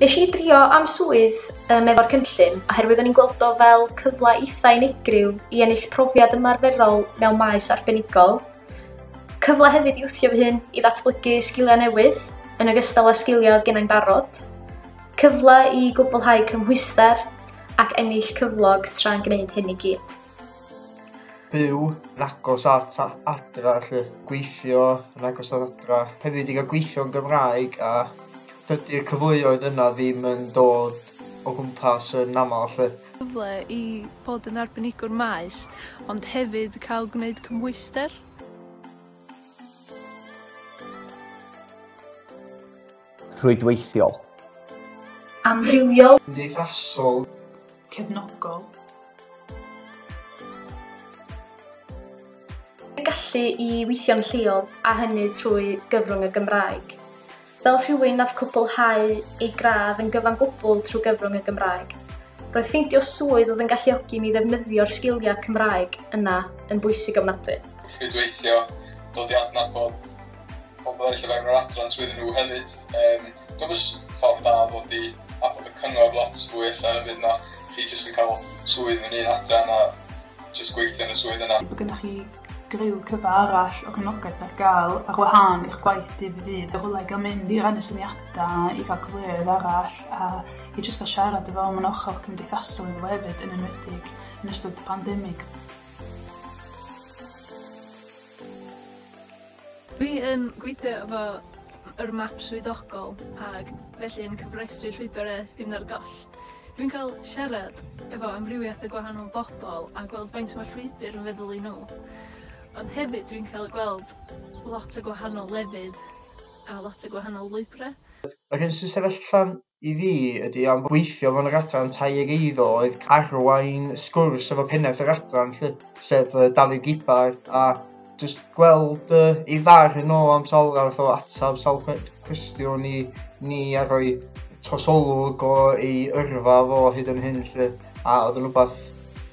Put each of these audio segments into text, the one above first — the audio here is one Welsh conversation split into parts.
Nes i drio am swydd um, efo'r cynllun oherwydd o'n i'n gweld o fel cyfle eitha unigryw i ennill profiad ymarferol mewn maes arbenigol. Cyfle hefyd i wthio fy hun i ddatblygu sgiliau newydd yn ogystal â sgiliau oedd gennau'n barod. Cyfle i gwblhau cymhwyster ac ennill cyflog tra'n gwneud hyn i gyd. byw yn agos at adra, lle gweithio yn agos at adra, hefyd i gael gweithio yn Gymraeg a dydy'r cyfleoedd yna ddim yn dod o gwmpas yn aml lle. Cyfle i fod yn arbenigwr maes, ond hefyd cael gwneud cymhwyster. rhwydweithiol. Amrywiol. Cymdeithasol. Cefnogol. Y gallu i weithio'n lleol, a hynny trwy gyfrwng y Gymraeg. Fel rhywun nath cwblhau ei gradd yn gyfan gwbl trwy gyfrwng y Gymraeg, roedd ffeindio swydd oedd yn galluogi mi ddefnyddio'r sgiliau Cymraeg yna yn bwysig ofnadwy. Rhwydweithio, dod i adnabod pobl eraill o fewn yr adran trwyddyn nhw hefyd. Um, Dwi'n bwys ffordd da ddod i abod y cyngor lot fwy efallai hefyd na chi jyst yn cael swydd yn un adran a jyst gweithio yn y swydd yna. Mae gennych chi griw cyfa arall o gyfnogaeth ar gael ar wahân i'ch gwaith dydd i ddydd. Yr hwlau gael mynd i rannu syniadau, i gael cyfleoedd arall a i jyst gael siarad efo am yn ochr cymdeithasol iddo hefyd yn enwedig yn ystod y pandemig. Dwi yn gweithio efo yr map swyddogol ag felly yn cyfrestru llwybyr e dim ar goll. Dwi'n cael siarad efo amrywiaeth o gwahanol bobl a gweld faint mae llwybr yn feddwl i nhw. Ond hefyd dwi'n cael gweld lot o gwahanol lefydd a lot o gwahanol lwybrau. Yr hyn sy'n sefyll allan I fi, ydy, am weithio mewn yr adran tai ag eiddo oedd arwain sgwrs efo pennaeth yr adran lly, sef uh, Dafydd Gibar, a just gweld uh, ei ddar yn ôl am sawl arall o atab sawl cwestiwn i ni a rhoi trosolwg o ei yrfa fo hyd yn hyn lly, a oedd yn rhywbeth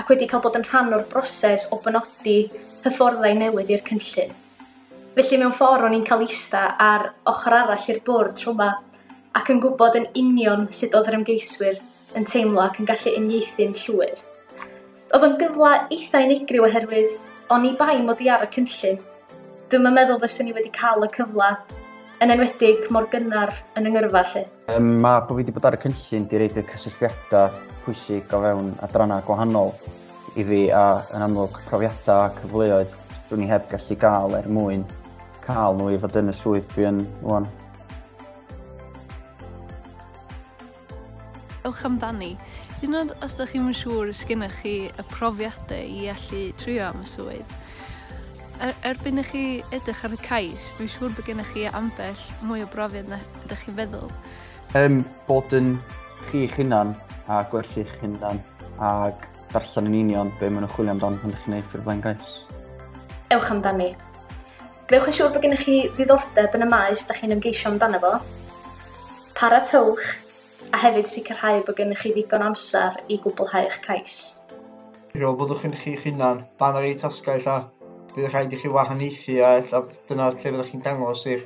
ac wedi cael bod yn rhan o'r broses o benodi hyfforddai newydd i'r cynllun. Felly mewn ffordd o'n i'n cael eista ar ochr arall i'r bwrdd tro yma ac yn gwybod yn union sut oedd yr ymgeiswyr yn teimlo ac yn gallu uniaethu'n llwyr. Oedd o'n gyfle eitha unigryw oherwydd o'n i bai mod i ar y cynllun. Dwi'n yn meddwl fyswn i wedi cael y cyfle yn enwedig mor gynnar yn y ngyrfa lle. Um, mae bod fi wedi bod ar y cynllun di reid y cysylltiadau pwysig o fewn adrannau gwahanol i fi a yn amlwg profiadau a cyfleoedd dwi'n ni heb gallu gael er mwyn cael nhw i fod yn y swydd dwi yn rwan. Ewch amdani. Hyd yn oed os ydych chi'm yn siŵr os gennych chi y profiadau i allu trio am y swydd. Er, erbyn i chi edrych ar y cais, dwi'n siŵr bod gennych chi ambell mwy o brofiad na ydych chi'n feddwl. Ym bod yn chi'ch hunan a gwerthu'ch hunan ac darllen yn union be maen nhw'n chwilio amdan pan ydych chi'n ei ffurflen gais. Ewch amdani. Gwnewch yn siŵr bod gennych chi ddiddordeb yn y maes da chi'n ymgeisio amdano fo. Paratowch a hefyd sicrhau bod gennych chi ddigon amser i gwblhau eich cais. Rho byddwch yn chi'ch hunan, dan yr ei tasgau ella. Bydd rhaid i chi wahaniaethu a ella dyna lle fyddwch chi'n dangos eich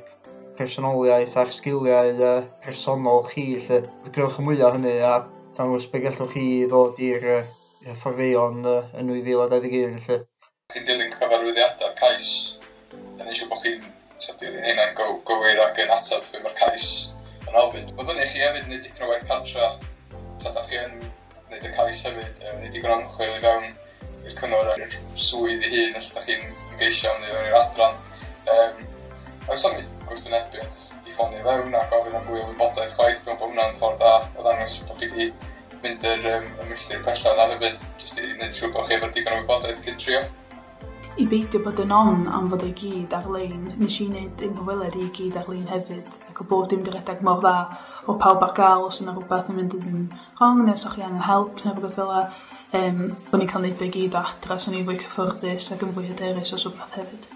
personoliaeth a'r sgiliau uh, personol chi. Lle. Gwnewch y mwyaf hynny a dangos be gallwch chi ddod i'r uh, fforddeion uh, yn 2021. Lle. Chi'n dilyn cyfarwyddiadau'r cais, a nid yw bod chi'n dilyn rheina'n gywir ac yn ateb be mae'r cais yn ofyn. Mae fyny i chi hefyd wneud dipyn o waith cartra tra da chi yn gwneud y cais hefyd, wneud digon o ymchwil i fewn i'r cyngor a'r swydd ei hun os ydych chi'n ymgeisio am neu fewn i'r adran. Um, oes am gwrthwynebiad i ffonio fewn a gofyn am fwy o wybodaeth chwaith, mewn bod hwnna'n ffordd da o ddangos bod chi wedi mynd yr um, ymwelltir pellach yna hefyd, jyst i wneud siŵr bod chi efo'r digon o wybodaeth cyn trio. I beidio bod yn on am fod ei gyd ar-lein, nes i wneud yn hyweled i gyd ar-lein hefyd, ac o bob dim di redeg mor dda, o pawb ar gael os yna rhywbeth yn mynd yn rhong, neu os o'ch chi angen help neu rhywbeth fel la, um, o'n i'n cael neud o'i gyd o adra, so o'n i'n fwy cyffyrddus ac yn fwy hyderus os rhywbeth hefyd.